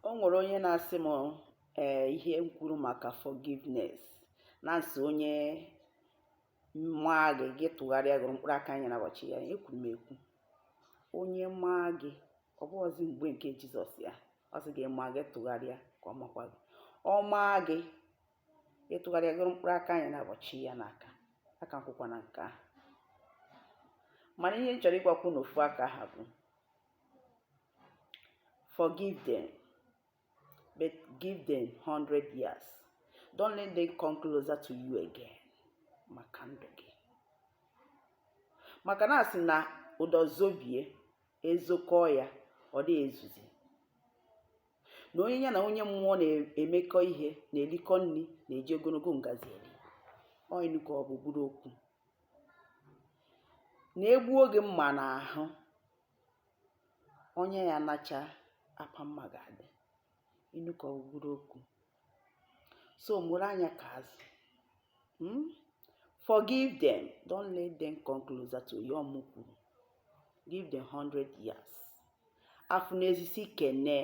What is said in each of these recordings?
O nwere onye na-asị m ee eh, ihe m kwuru maka forgiveness na-asị onye maa gị gị tụgharịa gụrụ mkpụrụ aka anya n'ụbọchị ya ekwuru m ekwu onye maa gị ọ bụghịzi mgbe nke Jizọs ya ọ sị gị a maa gị tụgharịa ka ọ makwa gị ọ maa gị ị tụgharịa gụrụ mkpụrụ aka anya n'ụbọchị ya n'aka aka m kwụkwa na nke ahụ mana ihe m chọrọ ịgwakwu n'ofu aka ahụ bụ Forgive them, but give them 100 years. Don't let them come closer to you again. Maka ndụ gị. Maka na asị na ụdọ zobie ezokọọ ya ọ dị ezuzi. Na onye ya na onye mmụọ na-emekọ ihe na-erikọ nri na-eji ogologo ngazi eri. Ọ inu ka ọ bụ bụrụ okwu. na e gbuo gị mma n'ahụ, ọnya ya nachaa apa mma ga-adị. Inu ka ọ bụ bụrụ okwu. So mụrụ anya ka azụ. Hmm? Forgive them. Don't let them come closer to you. Ọ mụ kwuru. Give them 100 years. Afụ n'ezi si kene.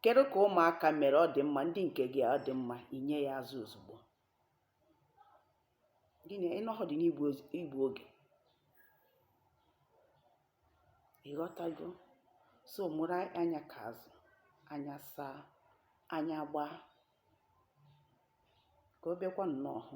Kedu ka ụmụaka mere ọ dị mma ndị nke gị ọ dị mma i nye ya azụ ozugbo. gịnị ị nọhọ dị n'igbu oge ị ghọtago so mụrụ anya ka azụ anya saa anya gbaa ka ọ bịakwa nnọọ hụ